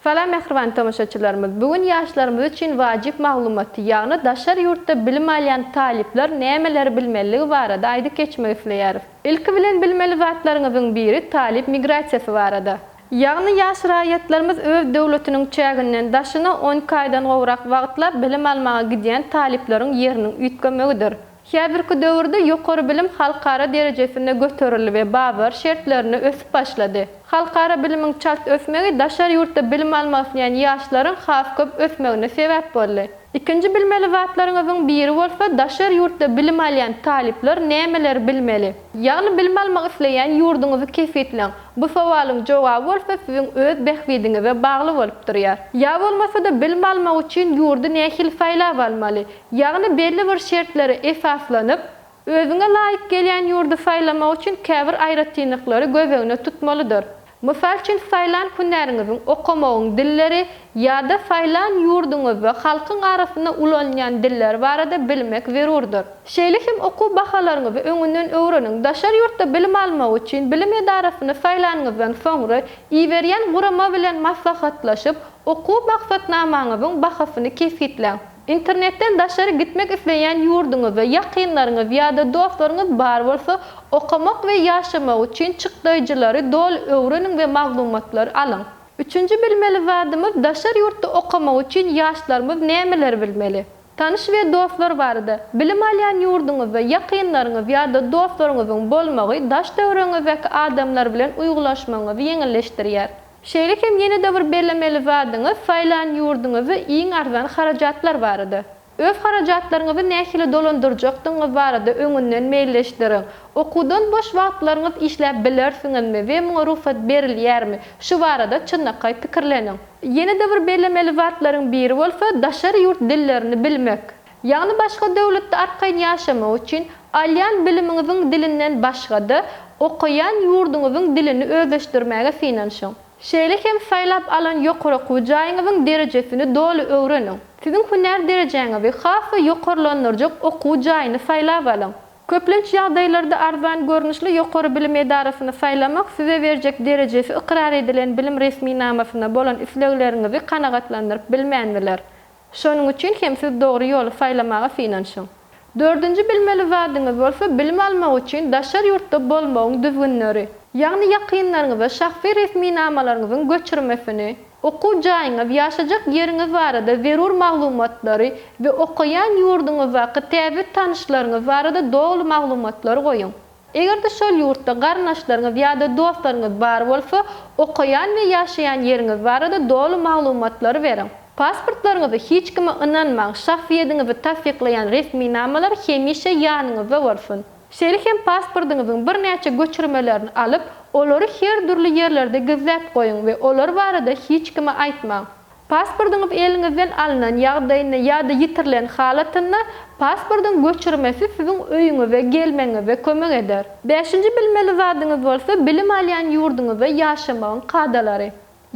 Salam mähriban tomaşaçylarymyz! Bu gün ýaşlarymyz üçin wajyp maglumaty, ýagny daşary ýurtda bilim alýan talyplar nämeleri bilmeliligi barada aýdyp geçmek isleýäris. Ilki bilen bilmeli zatlaryňyzyň biri talyp migrasiýasy barada. Ýagny ýaş raýatlarymyz öz döwletiniň çäginden daşyna on iki aýdan gowrak wagtlap bilim almaga gidýän talyplaryň ýeriniň üýtgemegidir. Häzirki döwürde ýokary bilim halkara derejesinde göterildi we bazar şertlerinde ösüp başlady. Halkara bilimiň çalt ösmegi daşary ýurtda bilim almak isleýän ýaşlaryň has köp ösmegine sebäp boldy. Ikinji bilmeli zatlaryňyzyň biri bolsa daşary ýurtda bilim alýan talyplar nämeleri bilmeli? Ýagny bilim almak isleýän ýurduňyzy kesgitleň. Bu sowalyň jogaby bolsa siziň öz bähbidiňize bagly bolup durýar. Ýa bolmasa-da bilim almak üçin ýurdy nähili saýlap almaly? Ýagny belli bir şertlere esaslanyp, özüňe laýyk gelýän ýurdy saýlamak üçin käbir aýratynlyklary göz öňüne tutmalydyr. Mysal üçin saýlan hünäriňiziň, okamagyň, dilleri, Ýa-da saýlan ýurduňyzda halkyň arasynda ulanylýan diller barada bilmek zerurdyr. Şeýle hem okuw bahalaryňyzy öňünden öwreniň. Daşary ýurtda bilim almak üçin bilim edarasyny saýlanyňyzdan soňra, iberýän gurama bilen maslahatlaşyp, okuw maksatnamaňyzyň bahasyny kesgitläň. Internetden daşary gitmek isleýän ýurduňyzda ýakynlaryňyz ýa-da dostlaryňyz bar bolsa, okamak we ýaşamak üçin çykdaýjylary doly öwreniň we maglumatlary alyň. Üçünji bilmeli zadymyz daşary ýurtda okamak üçin ýaşlarymyz nämeleri bilmeli? Tanyş we dostlar barada, Bilim alýan ýurduňyzda ýakynlaryňyz ýa-da dostlaryňyzyň bolmagy daş döwrüňizdäki adamlar bilen uýgulaşmagyňyzy ýeňilleşdirýär. Şeýle hem ýene-de bir bellemeli zadyňyz saýlan ýurduňyzda iň arzan harajatlar barada. Öz harajatlaryňyzy nähili dolandyrjakdygyňyz barada öňünden meýilleşdiriň. Okuwdan boş wagtlaryňyz işläp bilersiňizmi we muňa rugsat berilýärmi? Şu barada çynlakaý pikirleniň. Ýene-de bir bellemeli zatlaryň biri bolsa daşary ýurt dillerini bilmek. Ýagny başga döwletde arkaýyn ýaşamak üçin, alýan bilimiňiziň dilinden başga-da, okaýan ýurduňyzyň dilini özleşdirmäge synanyşyň. Şeýle hem saýlap alan ýokary okuw jaýyňyzyň derejesini doly öwreniň. Siziň hünär derejäňizi has-da ýokarlandyrjak okuw jaýyny saýlap alyň. Köplenç ýagdaýlarda arzan görnüşli ýokary bilim edarasyny saýlamak size berjek derejesi ykrar edilen bilim resminamasyna bolan islegleriňizi kanagatlandyryp bilmän biler. Şonuň üçin hem siz dogry ýoly saýlamaga synanyşyň. Dördünji bilmeli zadyňyz bolsa bilim almak üçin daşary ýurtda bolmagyň düzgünleri. Ýagny ýakynlaryňyza şahsy resminamalaryňyzyň göçürmesini, okuw jaýyňyz, ýaşajak ýeriňiz barada zerur maglumatlary we okaýan ýurduňyzdaky täze tanyşlaryňyz barada doly maglumatlary goýuň. Eger-de şol ýurtda garyndaşlaryňyz ýa-da dostlaryňyz bar bolsa, okaýan we ýaşaýan ýeriňiz barada doly maglumatlary beriň. Pasportlaryňyzy hiç kime ynanmaň, şahsyýediňizi tassyklaýan resminamalar hemişe ýanyňyzda bolsun. Şeýle hem pasportyňyzyň birnäçe göçürmelerini alyp, olary her dürli ýerlerde gizläp goýuň we olar barada hiç kime aýtmaň. Pasportyňyz eliňizden alnan ýagdaýynda ýa-da ýitirilen halatynda pasportyň göçürmesi siziň öýüňize gelmegiňize kömek eder. Bäşinji bilmeli zadyňyz bolsa bilim alýan ýurduňyzda ýaşamagyň kadalary.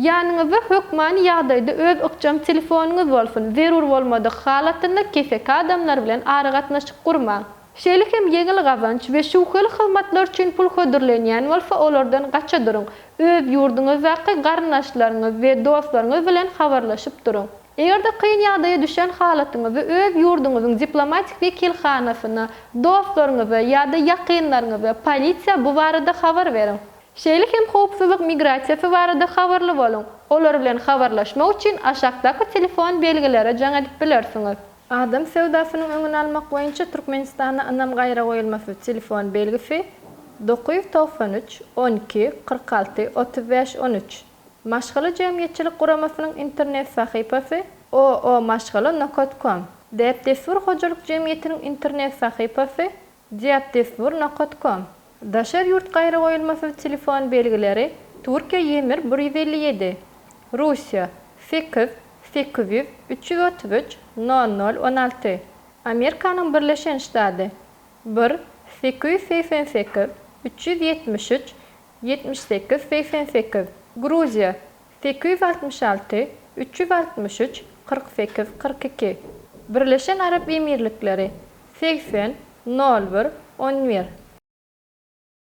Ýanyňyzda hökmany ýagdaýda öz ykjam telefonyňyz bolsun, zerur bolmadyk halatynda keseki adamlar bilen aragatnaşyk gurmaň. Şeýle hem ýeňil gazanç we şübheli hyzmatlar üçin pul hödürlenýän bolsa, olardan gaça duruň. Öz ýurduňyzdaky garyndaşlaryňyz we dostlaryňyz bilen habarlaşyp duruň. Eger-de kyn ýagdaýa düşen halatyňyzda öz ýurduňyzyň diplomatik wekilhanasyna, dostlaryňyza ýa-da ýakynlaryňyza, polisiýa bu barada habar beriň. Şeýle hem howpsuzlyk migrasiýasy barada habarly boluň. Olar bilen habarlaşmak üçin aşakdaky telefon belgilere jaň edip bilersiňiz. Adam söwdasynyň öňüni almak boýunça Türkmenistanda ynam gaýragoýulmasyz telefon belgisi, dokuz ýüz togsan üç, on iki, kyrk alty, otuz bäş, on üç, Maşgala jemgyýetçilik guramasynyň internet sahypasy, OO-Maşgala nokat kom, Däp-dessur hojalyk jemgyýetiniň internet sahypasy, Diatdestur nokat kom. Daşary ýurt gaýragoýulmasyz telefon belgileri Türkiýe Ýemir bir ýüz elli ýedi, Russiýa, sekiz, sekiz ýüz, üç ýüz otuz üç, nol nol, on alty, Amerikanyň Birleşen Ştady, bir, sekiz ýüz segsen sekiz, üç ýüz ýetmiş üç, ýetmiş sekiz, segsen sekiz, Gruziýa, Sekiz ýüz altmyş alty, üç ýüz altmyş üç, kyrk sekiz, kyrk iki. Birleşen Arap Emirlikleri, segsen, nol bir, on bir.